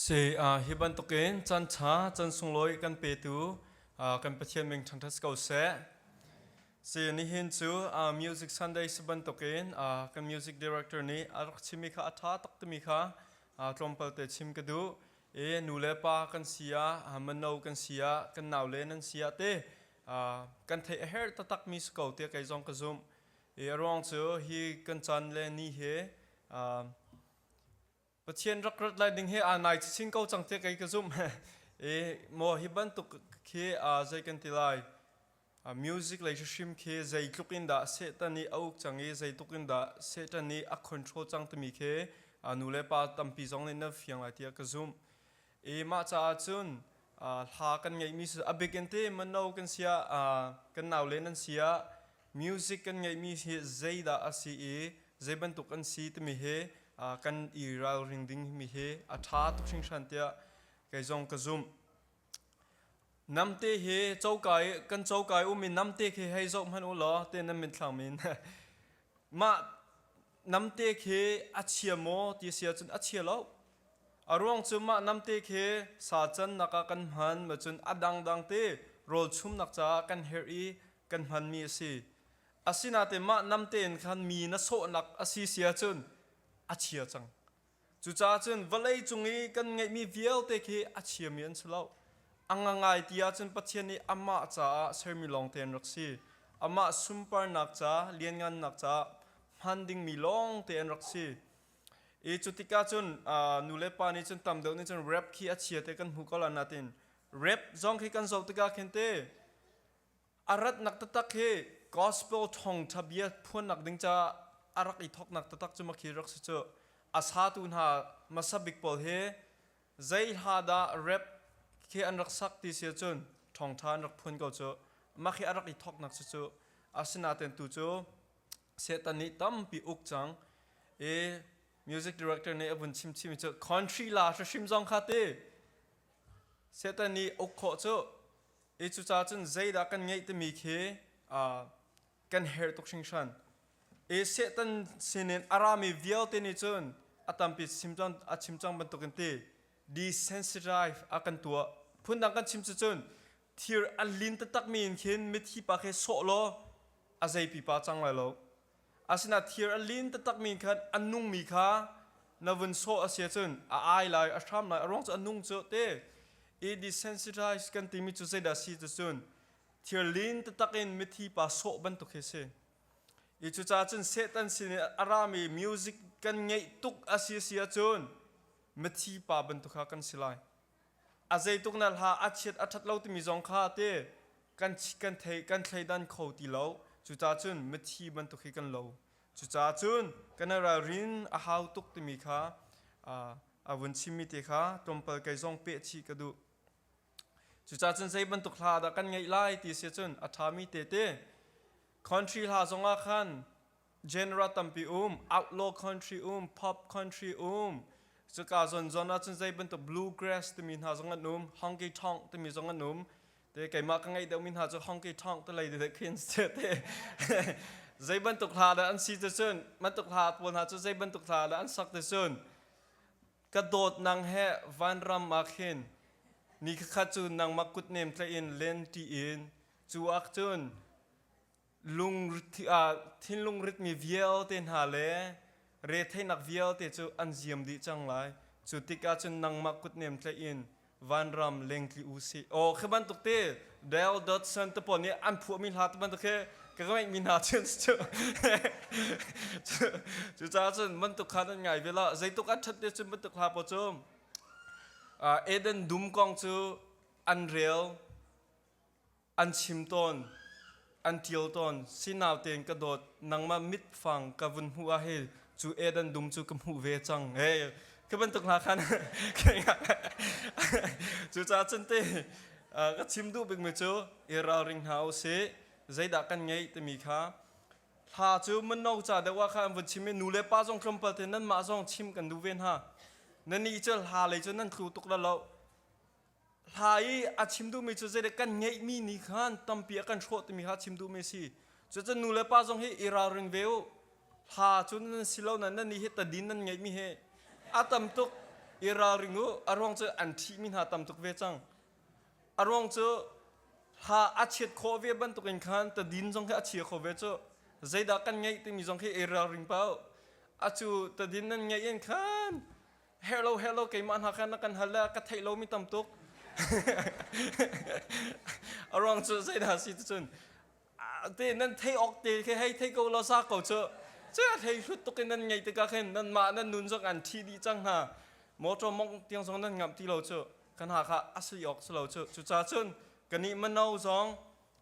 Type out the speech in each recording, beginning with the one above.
Si uh, hi bantukin can cha can sunglawi kan petu uh, kan pathian meng ṭhanṭhat si ko seh. Si nihin cu uh, Music Sunday si bantukin uh, kan music director nih a rak chimi kha a ṭha tak timi kha uh, tlawmpal te chim ka duh. E nu le pa kan sia, uh, mano kan sia, kan nau le nan sia te uh, kan thei a her tatak mi si ko tia kai zong ka zumh. E ruang cu hi kan can le ni he uh, Pathian rak rat lai ding hi aa nai chin ko cang tiah kei ka zumh. I maw hi bantuk khi aa zei kan ti lai. A music lei hrim khi zeitluk in dah Satan i a uk cang i zeitluk in dah Satan i a control cang timi khi a nu le pa tampi zong nih nan fiang lai tiah ka zumh. i mah caah cun hla kan ngeihmi cu a bik in ti mano kan sia kan naule nan sia music kan ngeihmi hi zeidah a si i zei bantuk an si timi hi kan i ralring ding mi hi a ṭha tuk hringhran tiah kei zong ka zumh namte hi cokai kan cokai um i namte khi hei zoh hmanh u law te nan min thlang min mah namte khi a chia maw ti si ahcun a chia lo a ruang cu mah namte khi sa cannak ah kan hman ma cun a dangdang te rawlchumnak caah kan herh i kan hmanmi a si asinain mah namte in khan mi na sawhnak a si si ahcun a chia cang Cucaah cun vawlei cung i kan ngeihmi vialte khi a chiami an si lo. A ngangai ti ahcun Pathian nih amah caah sermi lawngte an rak si. Amah sunparnak ca, lianngannak caah hman dingmi lawngte an rak si. I cu tikah cun nulepa nih cun tam deuh nih cun rap khi a chia ti kan hmuh ko lai nain rap zong khi kan zoh tikah khin te A ratnak taktak hi gospel thawngtha bia phuannak ding caah a rak i thawknak taktak cu makhi rak si cu. A satu hna hmasabik pawl hi zeihladah rap khi an rak sak ti si ahcun thawngtha an rak phuan ko cu. Makhi a rak i thawknak cucu asinain tu cu Satan nih tampi uk cang i music director nih a vun chimchimi cu country la hrim zong kha ti Satan nih uk khawh cu I cucaah cun zeidah kan ngeih timi khi kan herh tuk hringhran. I Satan sinin a rami vialte nih cun a tampi chim cang a chim cang bantukin ti desensitize a kan tuah. Phundang kan chim cucun thir a lin taktakmi in khin mithi pa khi sawh law a zei pipa cang lai lo. Asinain thir a lin taktakmi khan a nungmi kha na vun sawh a si ahcun a ai lai, a hram lai, a ruang cu a nung cu a ti. I desensitized kan timi cu zeidah a si ti cun thir lin taktak in mithi pa sawh bantuk hi a si. Hi cucaah cun Satan sin i a rami music kan ngeih tuk a si a si ahcun mithi pa bantuk kha kan si lai. a zeituk na hla a chiat a ṭhat lo timi zong kha te kan kan thei kan thleidan kho ti lo cucaah cun mithi bantuk hi kan lo cucaah cun kan i ralrin a hau tuk timi kha a vun chimmi te kha tlawmpal kei zong peh chih ka duh cucaah cun zei bantuk hla dah kan ngaih lai ti si cun a ṭhami tete country hla zongah khan Genera tampi um, outlaw country um, pop country um. Cuka zonzon ahcun zei bantuk bluegrass timi hna zong an um, honky tonk timi zong an um. Te keimah ka ngeih deuhmi hna cu honky tonk te lei de khin se te. zei bantuk hla dah an si te cun, bantuk hla pawl hna cu zei bantuk hla dah an sak te cun. Ka dawt nang he van ram ma khin, ni khakha cu nang ma kut nem tle in len ti in, cu ak cun, thinlung ritmi vialte hna le retheihnak vialte cu an ziam dih cang lai. Cu tikah cun nangmah kutnem tlaih in vanram lengtli u sih. Aw, khi bantuk te Dale Dodson te pawl nih an phuahmi hla te bantuk hi ka ngeihmi hna cu an si cu. Cucaah cun bantuk hla nan ngai ve lah. Zeituk an ṭhat te cun bantuk hla pawl cu Eden dum kong cu an rel. an chim tawn, an ṭial tawn, si nau tein ka dawt, nangmah mitfang ka vun hmuh ahhin cu Eden dum cu ka hmuh ve cang. Hey, khi bantuk hna khan cucaah cun te ka chim duh bikmi cu i ralring hna u sih. Zeidah kan ngeih timi kha hla cu mino ca deuh ah khan an vun chim i nu le pa zong tlawmpal te nanmah zong chim kan duh ve hna. Nannih cu hla lei cu nan tlu tuk la lo. hla i a chim duhmi cu zeidek kan ngeihmi ni khan tampi a kan hrawh timi kha chim duhmi si cucu nu le pa zong hi i ralring ve u hla cun nan si lo nan nan ni hi tadin nan ngeihmi he a tam tuk i ralring u a ruang cu an ṭhihmi hna tam tuk ve cang a ruang cu hla a chiat khawh ve bantukin khan tadin zong khi a chia kho ve cu zeidah kan ngeih timi zong khi i ralring pa u a cu tadin nan ngeih in khan herhlo herhlo keimah hna kha na kan hal le ka theih lomi tam tuk a ruang cu zeidah si ti cun te nan thei awk te khi hei thei ko law sa ko cu cu a thei hlut tuk in nan ngei tikah khin nan mah nan nun zong an thi dih cang hna motor mong tiang zong nan ngamh ti lo cu kan ha kha asli awk si lo cu cuca cun kanih mano zong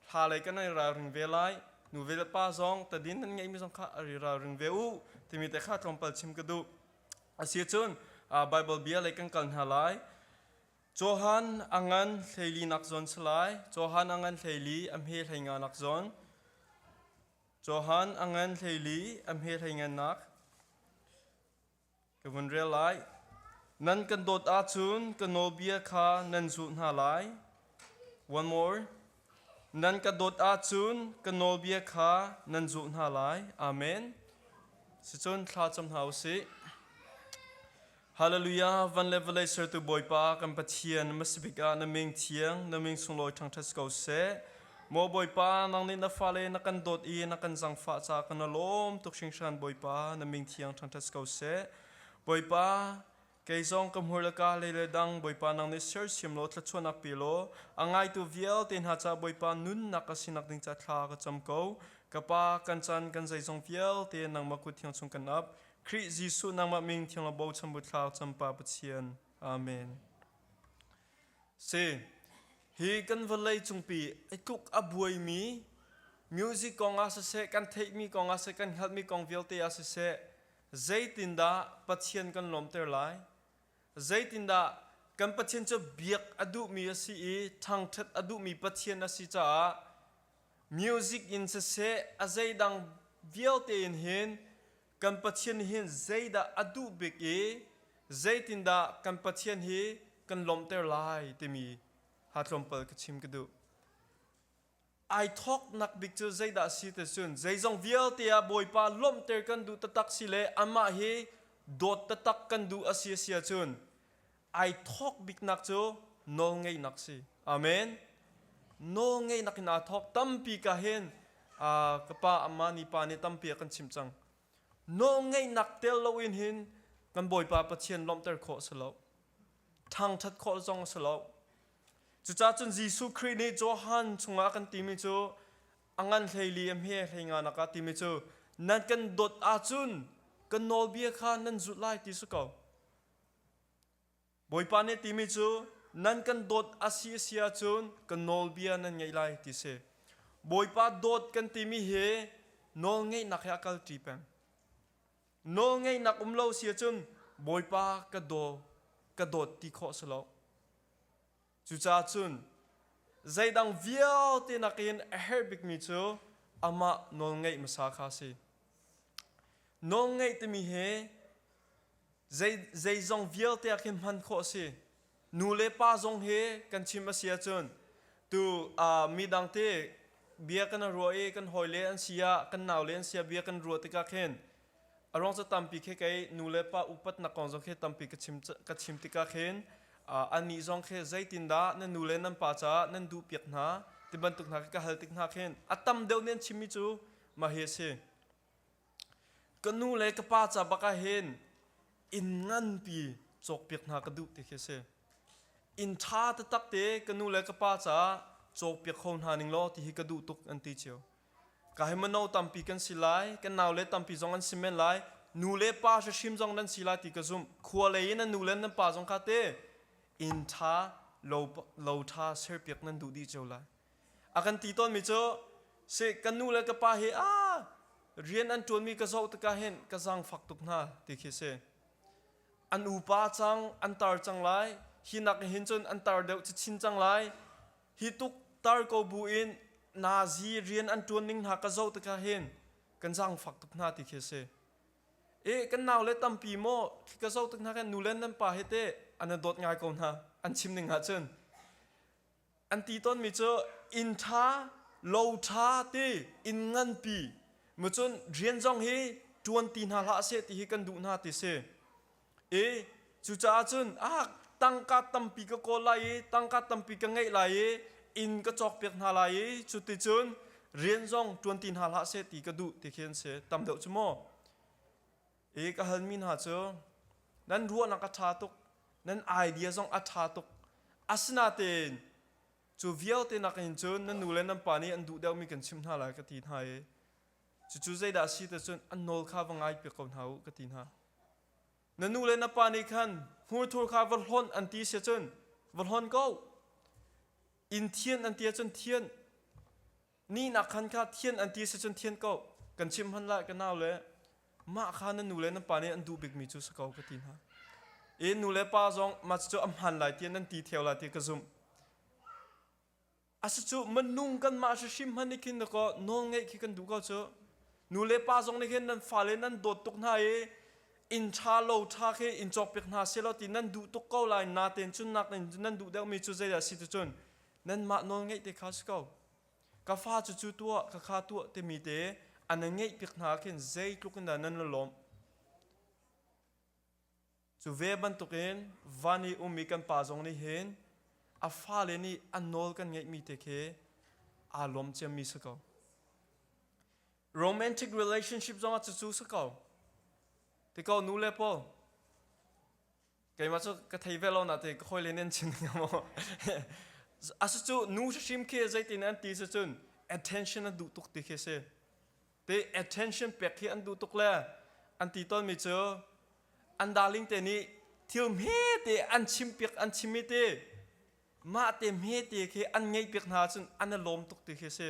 hla lei kan ai ralring ve lai nu ve le pa zong tadin nan ngeimi zong kha ari ralring ve u timi te kha tlawmpal chim ka duh Asicun Baibal bia lei kan kal hna lai. Johan a ngan hleili nak zawn si lai. Johan a ngan hleili a hme hlei nga nak zawn. Johan a ngan hleili a hme hlei ngan nak ka vun rel lai. Nan kan dawt ahcun ka nawlbia kha nan zulh hna lai. One more. Nan ka dawt ahcun ka nawlbia kha nan zulh hna lai. Amen. Sicun thla cam hna u sih. Hallelujah, van le vawlei sertu Bawipa kan Pathian na masabik ah na ming thiang, na ming sunglawi ṭhangṭhat si ko seh. Maw Bawipa, nang nih na fale na kan dawt i na kan zangfah ca ka na lawm tuk hringhran Bawipa, na ming thiang ṭhangṭhat si ko seh. Bawipa, Kei zong ka hmur le ka lei le dang Bawipa nang nih sersiam law thluachuahnak pe law a ngaitu vialte hna caah Bawipa nunnak ka sinak ding ca thla ka cam ko. Ka Pa, kan caan kan zeizong vialte nangmah kut thiang chung kan ap. Khrih Jesuh nangmah min thiang le bochan bu thla campa Pathian. Amen. Si. Hi kan vawlei cungpi i tluk a buaimi music kong ah siseh, kan theihmi kong ah siseh, kan hngalhmi kong vialte ah siseh, Zeitindah Pathian kan lawmter lai? Zeitindah kan Pathian cu biak a duhmi a si i ṭhangṭhat a duhmi Pathian a si caah music in siseh a zeidang vialte in hin kan Pathian nih hin zeidah a duh bik i zeitindah kan Pathian hi kan lawmhter lai timi ha tlawmpal ka chim ka duh. ai thawknak bik cu zeidah si te cun zeizong vialte ah Bawipa lawmhter kan duh tatak si le amah hi dawt tatak kan duh a si a si cun ai thawk biknak cu nawlngeihnak si amen nawlngeihnak in aa thawk tampi ka hen ka pa amma ni pa nih tampi a kan chim cang nawlngeihnak tel loin hin kan Bawipa Pathian lawmhter khawh si lo ṭhangṭhat khawh zong si lo Cucah cun Jesuh Khrih nih Johan chungah a kan timi cu a ngan hleili a hme hlei nga nakah timi cu nan kan dawt ahcun kan nawlbia kha nan zulh lai ti si ko. Bawipa nih timi cu nan kan dawt a si a si ahcun kan nawlbia nan ngaih lai ti si. Bawipa dawt kan timi hi nawl ngeihnak he a kalṭi peng. Nawlngeihnak um lo si ahcun Bawipa ka daw ka dawt ti khawh si lo. Cucaah cun zeidang vialte nakin a herh bikmi cu amah nawlngeih hmasa kha a si. Nawlngeih timi hi zei, zeizong vialte ah khin hman khawh a si. Nu le pa zong hi kan chim a si ahcun tu uh, midang te bia kan ruah i kan hawile an si ah kan naule an si ah bia kan ruah tikah khin a ruang cu tampi khi kei nu le pa upat nak kong zong khi tampi ka chim ka chim tikah khin uh, anih zong khi zeitindah nan nu le nan pa caah nan duh piak hna ti bantuk hna khi ka hal tik hna khin a tam deuh men chimmi cu ma hi a si ka nu le ka pa ca bak ah hin inn nganpi cawkpiak hna ka duh ti khi a si inn ṭha taktak te ka nu le ka pa ca cawkpiak kho hna ning law ti hi ka duh tuk an ti cio ka hi mano tampi kan si lai kan naule tampi zong an si men lai nu le pa hrihrim zong nan si lai ti ka zumh khua lei in an nu le nan pa zong kha te inn ṭha lo lo ṭha serpiak nan duh dih cio lai a kan ti tawnmi cu se kan nu le ka pa he a rian an ṭuanmi ka zoh tikah hin ka zaangfak tuk hna ti khi si an upa cang an tar cang lai hi nak hin cun an tar deuh chin cang lai hi tuk tar ko bu in nazi rian an ṭuan ning hna ka zoh tikah hin kan zaangfak tuk hna ti khi si e kan nau le tampi maw khi ka zoh tik hna khan nu len nan pa he te an dawt ngai ko hna an chim ning ha cun An ti tawnmi cu inn ṭha, lo ṭha ti inn nganpi macun rian zong hi ṭuanti hna hlah seh ti hi kan duh hna ti si i cucaah cun ah tangka tampi ka kawl lai i tangka tampi ka ngeih lai i inn ka cawkpiak hna lai i cuticun rian zong ṭuanti hna hlah seh ti ka duh ti khi an si tam deuh cu mu. i ka halmi hna cu nan ruahnak a ṭha tuk nan idea zong a ṭha tuk asinain cu vialte nakin cun nan nu le nan pa nih an duh deuhmi kan chimh hna lai ka ti hna i cucu zeidah a si ti cun an nawl kha va ngai piak ko hna u ka ti hna na nu le na pa nih khan hmurthur kha va hlon an ti sia cun va hlon ko in thian an ti ahcun thian ni nak khan kha thian an ti si cun thian ko kan chim hman lai ka nau le mah kha na nu le na pa nih an duh bikmi cu sa ko ka ti hna e nu le pa zong ma cu a hman lai ti nan ti theo lai ti ka zumh asa cu manung kan mah shi hrim hman nikhin ko nawl ngai khi kan du ko cu nu le pa zong nih hin nan fale nan dawt tuk hna i in tha lo tha khi in chok pik hna se lo ti nan duh tuk ko lai na ten cun nak nan duh deuh mi cu zeidah si tu cun nanmah nawlngeih te kha si ko. Ka fa cucu tuah, khakha tuah timi te a na ngeih piak hna ah khin zeitluk in dah nan la lawmh. Cu ve bantukin van i ummi kan pa zong nih hin a fale nih an nawl kan ngeihmi te khi aa lawm ciammi si ko. Romantic relationship zongah cucu si ko. Ti ko nu le paul, keimah cu ka thei ve lo na te ka hawile nen chin ngam maw asu cu nu hrim khi zeitin an ti su cun attention an duh tuk ti khi si te attention pek khi an duh tuk le an ti ton mi cu an darling te nih thil hme te an chim piak an chim mi te mah te hme te khi an ngei piak hna cun an lawm tuk ti khi si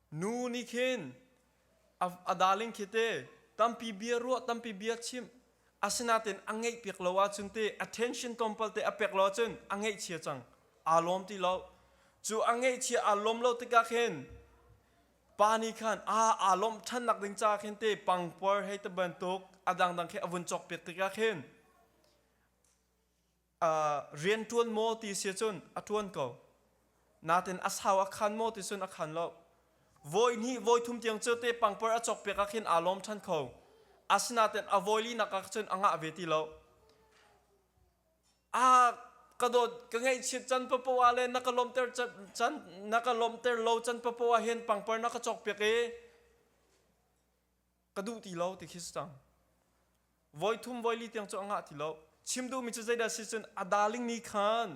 Nu nih khin a darling khi te tampi bia ruah tampi bia chim asinain a ngeih piak lo ahcun te attention tlawmpal te a pek lo ahcun a ngeihchia cang aa lawm ti lo cu a ngeihchia aa lawm lo tikah khin pa nih khan aa aa lawmh ṭhan nak ding caah khin te pangpar hei ti bantuk a dangdang khe a vun cawk piak tikah khin rian ṭuan maw ti si cun a ṭuan ko. Natin a sau a khan maw ti cun a khan lo. Voi hnih voi thum tiang cu te pangpar a cawkpiak ah khin aa lawm ṭhan kho. Asinain a voi linak ah cun a ngah ve ti lo. Aa ka dawt ka ngaihchiat can papoah le na ka lawmter can na ka lawmter lo can papoah hin pangpar na ka cawkpiak i ka duh ti lo ti khi si cang voi thum voi li tiang cu a ngah ti lo chim duhmi cu zeidah si cun a darling nih khan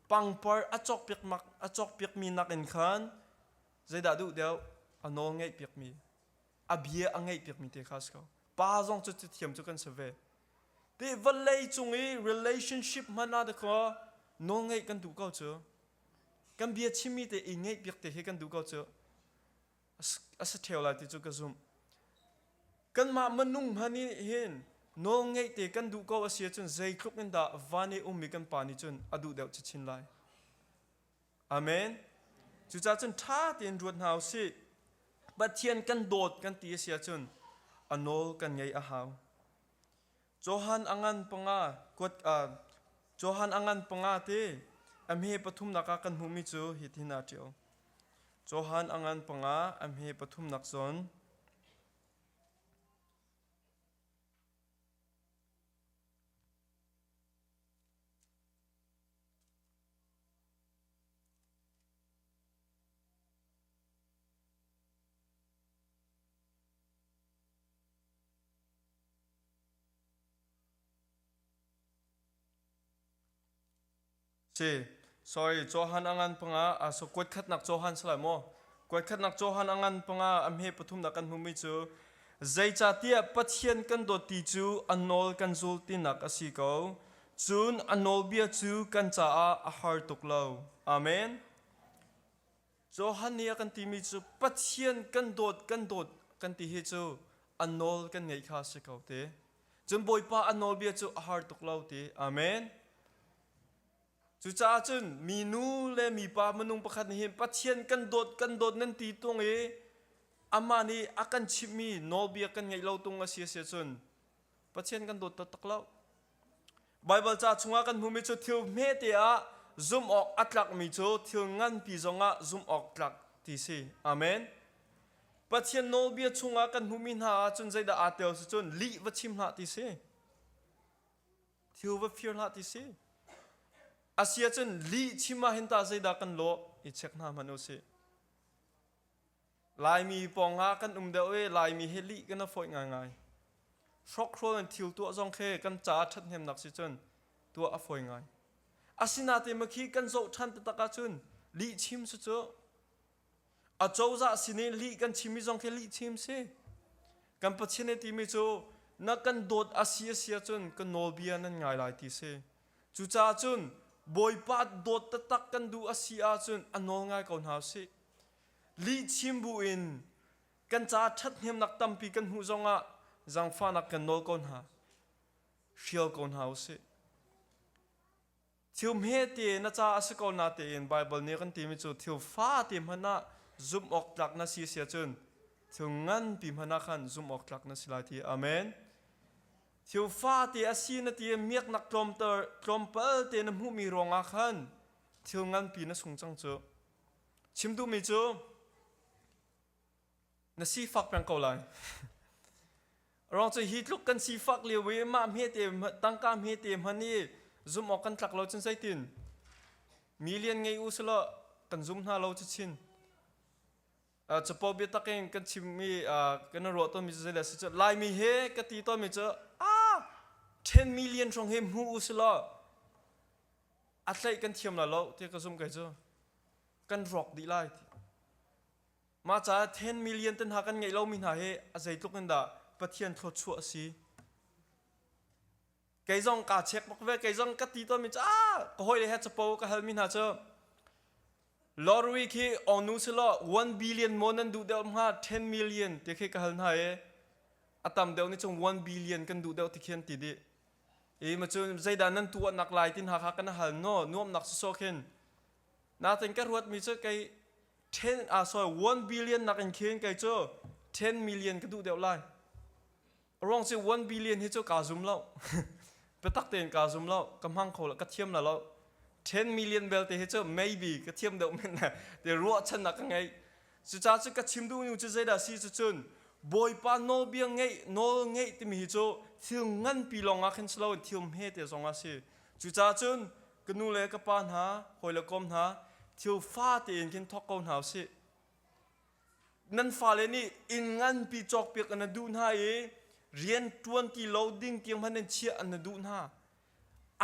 pangpar a cawk piak mak a cawk piak mi nak in khan zeidah duh deuh a nawl ngeih piak mi a bia a ngeih piak mi te kha si ko pa zong cu thiam cu kan se ve te vallei cung i relationship hmana da ko nawl ngeih kan duh ko cu kan bia chimmi te i ngeih piak te hi kan duh ko cu a si theo lai ti cu ka zumh. Kanmah minung hman nih hin nawlngeih te kan duh ko a si ahcun zeitluk in dah van i ummi kan pa nih cun a duh deuh chin lai. Amen. Cucaah cun ṭha tein ruat hna u sih. Pathian kan dawt kan ti a si ahcun a nawl kan ngei a hau. Johan a ngan panga kuat uh, Johan a ngan panga te a hme pathumnak ah kan hmuhmi cu hi tin a ṭio. Johan a ngan panga a hme pathumnak zon Si sorry Johan angan panga a so kuat khatnak Johan sala mo kuat khatnak Johan angan panga a hme pathum da kan hmumi chu zeicatiah pathian kan dawti cu a nawl kan zul tinak asi ko cun a nawlbia cu kan caah a har tuk lo amen Johan nih a kan timi cu Pathian kan dawt kan dawt kan ti hi cu a nawl kan ngeih kha a si ko ti. Cun Bawipa a nawlbia cu a har tuk lo ti. Amen. Cucaah cun minu le mipa minung pakhat nih hin Pathian kan dawt kan dawt nan ti tung i amah nih a kan chimhmi nawlbia kan ngeih lo tung a si a si ahcun Pathian kan dawt taktak lo. Baibal ca chungah kan hmuhmi cu thil hmete ah zumh awk a tlakmi cu thil nganpi zongah zumh awk tlak ti si. Amen. Pathian nawlbia chungah kan hmuhmi hna ahcun zeidah aa tel si cun lih va chim hlah ti si. Thil va fir hlah ti si. A si ahcun lih chim ah hin tah zeidah kan lawh i check hna hmanh u sih. Laimi pawng ah kan um deuh i Laimi hi lih kan i fawih ngaingai. Hrawkhrawl in thil tuah zong khi kan caah ṭhathnemnak si cun tuah a fawi ngai. Asinain mah khi kan zohṭhan taktak ahcun lihchim cu cu acozah sin i lih kan chimmi zong khi lihchim si. Kan Pathian i timi cu na kan dawt a si a si ahcun ka nawlbia nan ngai lai ti si. Cucaah cun Bawipa dawt taktak kan duh a si ahcun a nawl ngai ko hna usih. Lihchim bu in kan caah ṭhathnemnak tampi kan hmuh zongah zangfahnak kan nawl ko hna. Hrial ko hna usih. Thil hmete na caah a si ko na tein Baibal nih kan timi cu thil fate hmanh ah zumh awk tlak na si a si ahcun thil nganpi hmanh ah khan zumh awk tlak na si lai ti. Amen. Thil fate a si na ti i miaknak tlawmter tlawmpal te na hmuhmi ruangah khan thil nganpi na sung cang cu. Chim duhmi cu na sifak peng ko lai. Rang cu hi tluk kan sifak lio i mah hmete tangka hmete hman i zum awk kan tlak lo cun zeitin? Million ngei u selaw kan zum hna lo cu chin. capo biatak in kan chimmi kan i ruah tawnmi zeizei le si cu laimi he ka ti tawnmi cu a ṭhen million hrawng he hmu u si law a tlaih kan thiam la lo ti ka zumh kai cu kan rawk dih lai mah caah ten million ten hna kan ngeih lomi hna hi a zeitluk in dah pathian thawchuah a si kei zong ka check bak ve kei zong ka ti to mi ah ka hoi le he chapo ka hal mi hna chu lorry khi ongnu silo 1 billion mo nan duh deuh hnga 10 million te khi ka hal hna e atam deuh ni chung 1 billion kan duh deuh ti khen ti di e ma chu zeidan nan tu nak lai tin ha kha kana hal no nuam nak so khin na tin ka ruat mi chu kei 10 a so 1 billion nak in khin kei chu 10 million ka duh deuh lai ruang cu one billion hi cu kaa zum lo biatak tein kaa zum lo ka hmang kho lo ka thiam lo lo ten million belte hi cu maybe ka thiam deuh men na te ruahchan na ka ngei cuca cu ka chim duh nu cu zeidah si cu cun bawipa nawlbia ngei nawl ngei timi hi cu thil nganpi lawng ah khin si loin thil hme te zong a si cuca cun ka nu le ka pa hna hawi le kom hna thil fa tein khin thawk ko hna u sih nan fale nih inn nganpi cawkpiak an duh hna i rian ṭuan ti lo ding tiang hman in chiah an duh hna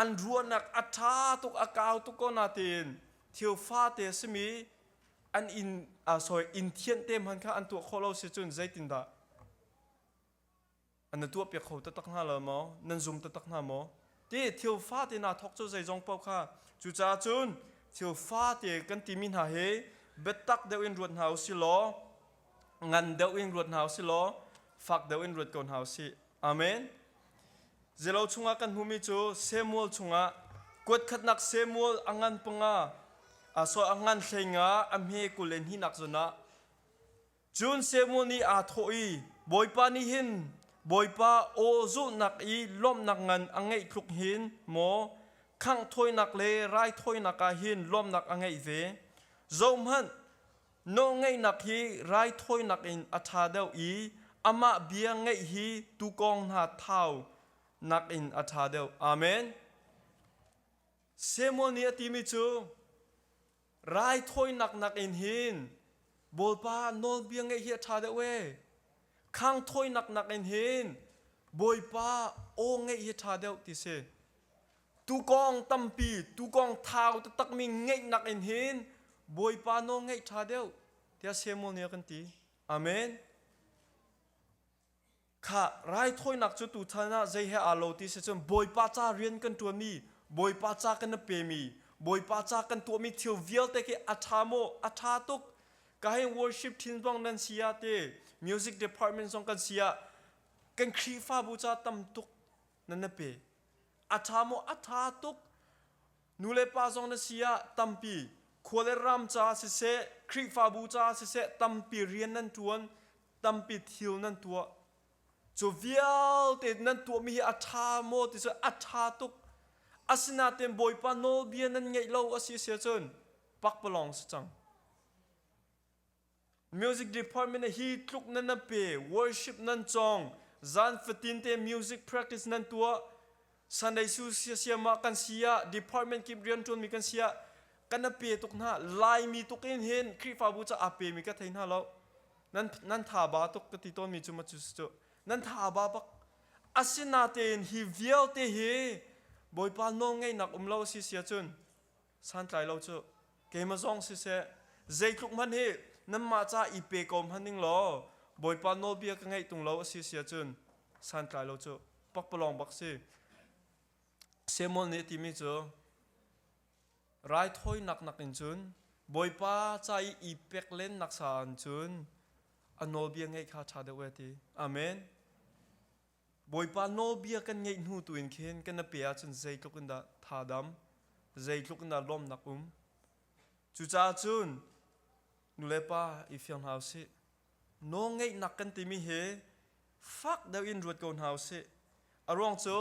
an ruahnak a ṭha tuk a kau tuk ko nain thil fate a simi an inn uh, sorry inn thianh te hman kha an tuah khawh lo si cun zeitindah A na tuahpiak kho taktak hna lo maw? Nan zum taktak hna maw? Ti thil fate hna thawk cu zeizong paoh kha cucaah cun thil fate kan timi hna hi biatak deuh in ruat hna u si law ngan deuh in ruat hna u si law fak deuh in ruat ko hna u sih. Amen. Zelo chungah kan hmumi cu Samuel chungah kuatkhatnak Samuel a ngan panga a so a ngan hlei nga a hme kul le hninak zun ah Cun Samuel nih aa thawh i, Bawipa nih hin Bawipa aw zulhnak i lawmhnak ngan a ngeih tluk hin maw khangh thawinak le raithawinak ah hin lawmhnak a ngeih ve? Zohhmanh, nawlngeihnak hi raithawinak in a ṭha deuh i amah bia ngaih hi tuukawng hna thau nakin a ṭha deuh. Amen. Samuel nih a timi cu, Raithawinak nakin hin Bawipa nawlbia ngeih hi a ṭha deuh ee. Khangthawinak nakin hin Bawipa aw ngeih hi a ṭha deuh ti si. Tukawng tampi, tukawng thau taktakmi ngeih nakin hin Bawipa nawl ngeih ṭha deuh tiah Samuel nih a kan ti. Amen. Kha raithawinak cu tuchan ah zei he aa lo ti si cun Bawipa ca rian kan ṭuanmi, Bawipa ca kan i pemi, Bawipa ca kan tuahmi thil vialte khi a ṭha maw? A ṭha tuk. Ka hei worship ṭhin zong nan si ah te, music department zong kan si ah kan Khrihfabu ca tam tuk nan i pe. A ṭha maw? A ṭha tuk. Nu le pa zong na si ah tampi khua le ram caah siseh, Khrihfabu caah siseh tampi rian nan ṭuan, tampi thil nan tuah. Cu vialte nan tuahmi hi a ṭha maw ti cu a ṭha tuk. Asinain Bawipa nawlbia nan ngeih lo a si a si ahcun pakpalawng si cang. music department hi tluk nan nan pe worship nan cong zan fatin te music practice nan tuah sunday su siama kan sia department kip rian tuan mi kan sia kan na pe tuk na lai mi tuk in hin khrifabu cha a pe mi ka thei na lo nan nan tha ba tuk ka ti ton mi chu ma chu chu nan tha ba bak asina te in hi vialte hi boipa no ngei nak um lo si sia chun Santlai lo cu. Keimah zong siseh, zeitluk hmanh hi nanmah ca i pe ko hmanh ning law Bawipa nawlbia ka ngaih tung lo a si si ahcun santlai lo cu pakpalawng bak si. Samuel nih a timi cu raithawinak nakin cun Bawipa ca i i pek lennak sa ah cun a nawlbia ngaih kha ṭha deuh e ti. Amen. Bawipa nawlbia kan ngaih hnu tuin khin kan na pe ahcun zeitluk in dah thadam, zeitluk in dah lawmnak um. Cucaah cun nulepa i fiang hna u sih. Nawlngeihnak kan timi hi fak deuh in ruat ko hna u sih. A ruang cu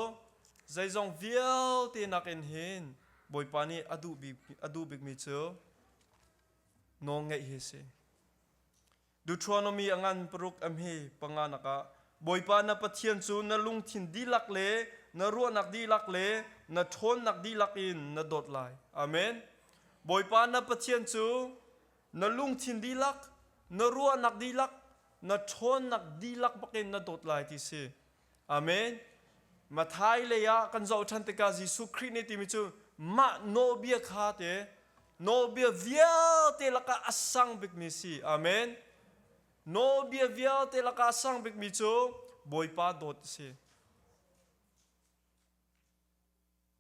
zeizong vialte nakin hin Bawipa nih a duh bik, a duh bikmi cu nawlngeih hi a si. Deuteronomy angan paruk am hi panga nakah Bawipa na Pathian cu na lungthin dihlak le na ruahnak dihlak le na ṭhawnnak dihlak in na dawt lai. Amen. Bawipa na Pathian cu na lungthin dihlak, na ruahnak dihlak, na ṭhawnnak dihlak bakin na dawt lai ti si. Amen. Matthai lei ah kan zoh ṭhan tikah Jesuh Khrih nih timi cu mah nawlbia kha te nawlbia vialte lakah a sang bikmi si. Amen. Nawlbia vialte lakah a sang bikmi cu Bawipa dawt a si.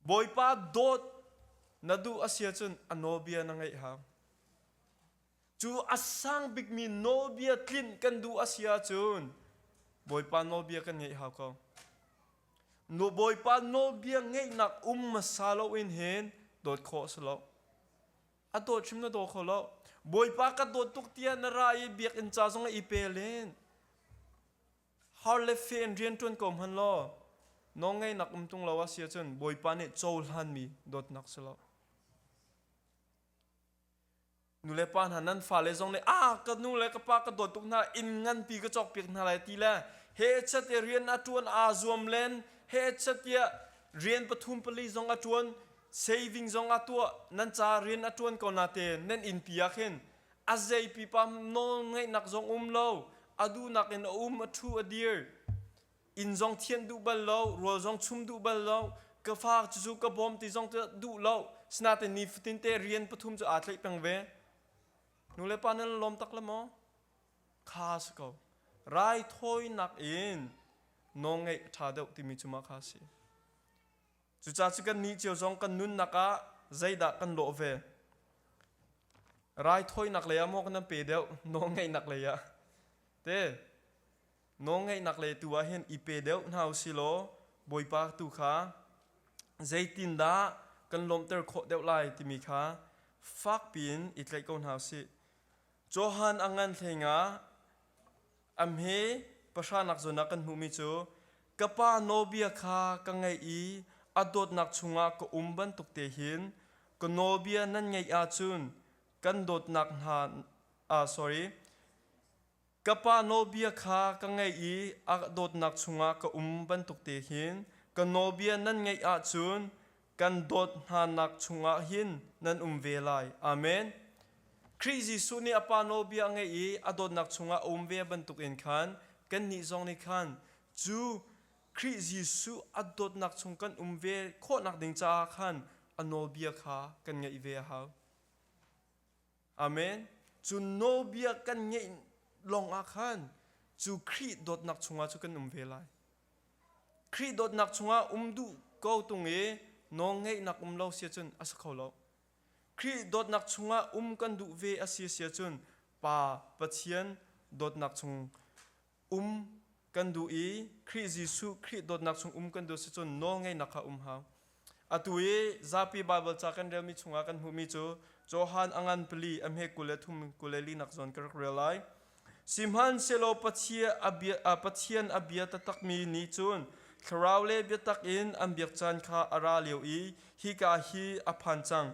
Bawipa dawt na duh a si ahcun a nawlbia na ngeih hang. Cu a sang bikmi nawlbia tlinh kan duh a si ahcun Bawipa nawlbia kan ngeih hau ko. Bawipa nawlbia ngeihnak um hmasa loin hin dawt khawh a si lo. A dawt hrim na daw kho lo. Bawipa ka dawt tuk tiah na ra i biakinn ca zong i pe len. har le fe in rian ṭuan ko hmanh law nawlngeihnak um tung lo a si ahcun Bawipa nih cohlanmi dawtnak si lo. Nulepa hna nan fale zong nih ah ka nu le ka pa ka dawt tuk hna inn nganpi ka cawkpiak hna lai ti le he chate rian a ṭuan aa zuam len he chatia rian pathum pali zong a ṭuan saving zong a tuah nan ca rian a ṭuan ko nate nan innpi ah khin A zei pipa nawlngeihnak zong um lo, a duhnak in a um, a thu a dir. Inn zong thianh duh bal lo, rual zong chum duh bal lo, ka fa cucu ka bawm ti zong duh lo. Sinatin nifatin te rian pathum cu aa tlaih peng ve. Nule pa nan lawm tak la maw? Kha si ko. Raithawinak in nawlngeih a ṭha deuh timi cu mah kha a si. Cucaah cu kannih cio zong kan nunnak ah zeidah kan lawh ve? Raithawinak lei ah maw kan pe deuh nawlngeihnak lei ah te nawlngeihnak lei tu ah hin i pe deuh hna u silaw Bawipa tu kha zeitindah kan lawmhter khawh deuh lai timi kha fakpiin i tlaih ko hna u sih. Johan a ngan hleng ah A hme pahra nak zawn ah kan hmuhmi cu ka pa nawlbia kha ka ngaih i a dawtnak chungah ka um bantuk te hin ka nawlbia nan ngaih ahcun kan dawtnak hna ah sorry ka pa nawlbia kha ka ngaih i a dawtnak chungah ka um bantuk te hin ka nawlbia nan ngaih ahcun kan dawt hnanak chungah hin nan um ve lai. Amen. Khrih Jesuh nih a Pa nawlbia a ngaih i a dawtnak chungah a um ve bantukin khan kannih zong nih khan cu Khrih Jesuh a dawtnak chung kan um ve khawhnak ding caah khan a nawlbia kha kan ngaih ve a hau. Amen. Cu nawbia kan ngeih lawngah khan cu Khrih dawtnak chungah cu kan um ve lai. Khrih dawtnak chungah um duh ko tung i nawlngeihnak um lo sia cun a si kho lo. Khrih dawtnak chungah um kan duh ve a si sia cun Pa, Pathian dawtnak chung um kan duh i Khrih Jesuh Khrih dawtnak chung um kan duh si cun nawlngeihnak kha um hau. Atu i zapi Baibal ca kan relmi chungah kan hmuhmi cu Johan a ngan pali a hme kul le thum kul le linak zawn ka rak rel lai. Sihmanhsehlaw Pathian a bia taktakmi nih cun thlarau le biatak in an biak caan kha a ra lio i hika hi a phan cang.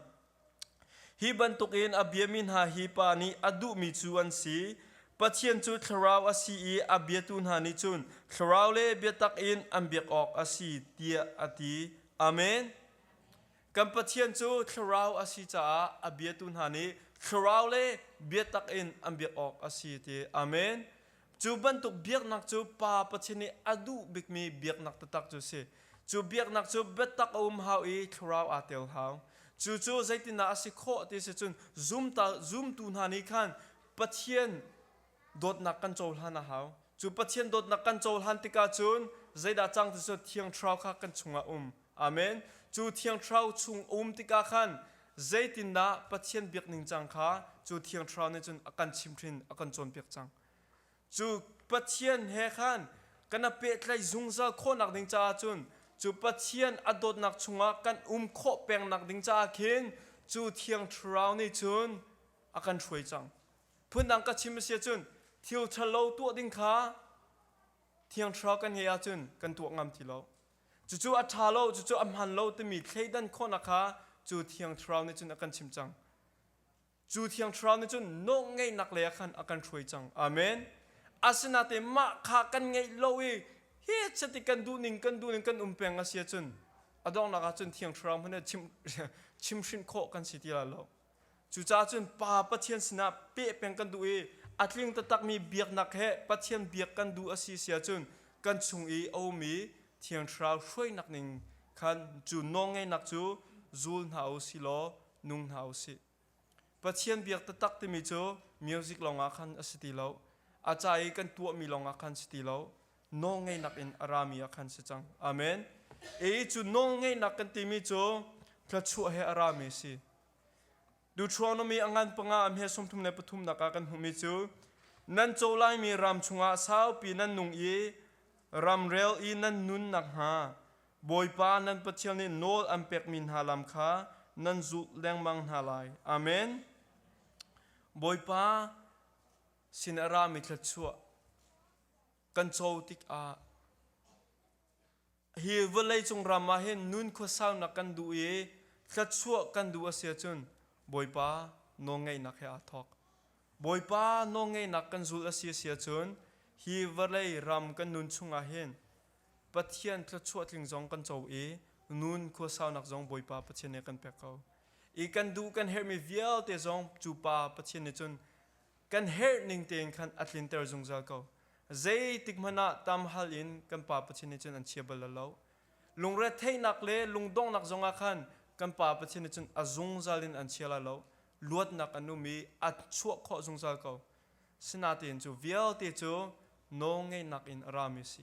Hi bantukin a biami hna hi pa nih a duhmi cu an si. Pathian cu thlarau a si i a biatu hna nih cun thlarau le biatak in an biak awk a si tiah a ti. Amen. Kan Pathian cu thlarau a si caah a biatu hna nih thlarau le biatak in an biak awk a si ti. Amen. Cu bantuk biaknak cu Pa Pathin i a duh bikmi biaknak taktak cu a si. Cu biaknak cu biatak a um hau i thlarau aa tel hau. Cucu zeitindah a si khawh ti a si cun zumtal zumtu hna nih khan Pathian dawtnak kan cohlan a hau. Cu Pathian dawtnak kan cohlan tikah cun zeidah cang ti cu Thiang Thlarau kha kan chungah um Amen. Cu thiang thlarau chung a um tikah khan zeitindah Pathian biak ningcang kha cu thiang thlarau nih cun a kan chimhhrin, a kan cawnpiak cang. Cu Pathian he khan kana pehtlaih zungzal khawhnak ding caah cun cu Pathian a dawtnak chungah kan um khawh pengnak ding caah khin cu thiang thlarau nih cun a kan hruai cang. Phundang ka chim a si ahcun thil ṭhalo tuah ding kha thiang thlarau kan ngeih ahcun kan tuah ngam ti lo. Cucu a ṭha lo, cucu a hmaan lo timi thleidan khawhnak kha cu thiang thlarau nih cun a kan chimh cang. Cu thiang thlarau nih cun nawlngeihnak lei ah khan a kan hruai cang. Amen. Asinain mah kha kan ngaih lo i hi chiti kan duhning kan duhning kan um peng a si ahcun a donghnak ah cun thiang thlarau hmanh nih chim, chimhhrinh khawh kan si ti lai lo. Cucaah cun Pa Pathian sinah peh peng kan duh i a tling taktakmi biaknak he Pathian biak kan duh a si si ahcun kan chung i a um i Thiang Thlarau hruainak ning khan cu nawlngeihnak cu zul hna u si law nung hna u sih. Pathian biak taktak timi cu music lawngah khan a si ti lo. A ca i kan tuahmi lawngah khan si ti lo. nawlngeihnak in a rami ah khan si cang. Amen. Ei cu nawlngeihnak kan timi cu tlachuah he a rami a si. Deuteronomy a ngan panga am he sawmthum le pathum nak ah kan hmuhmi cu nan co laimi ram chungah saupi nan nung i ramrel i nan nun nakhnga Bawipa nan Pathian nih nawl an pekmi hna lam kha nan zulh lengmang hna lai. Amen. Bawipa sin a rami thlachuah kan co tikah hi vawlei cung ram ah hin nun khuasaunak kan duh i thluachuah kan duh a si ahcun Bawipa nawlngeihnak he aa thawk. Bawipa nawlngeihnak kan zul a si a si ahcun hi vawlei ram kan nun chungah hin Pathian thluachuah tling zong kan co i nun khuasaunak zong Bawipa Pathian nih kan pek ko. I kan duh kan herhmi vialte zong cu Pa Pathian nih cun kan herh ning tein khan a tlinter zungzal ko. Zeitik hmanh ah tam hal in kan Pa Pathian nih cun an chia bal lo. Lungretheihnak le lungdonghnak zong ah khan kan Pa Pathian nih cun a zungzal in an chia la lo. Luatnak an um i a chuah khawh zungzal ko. Sinatein cu vialte cu nawlngeihnak in a rami a si.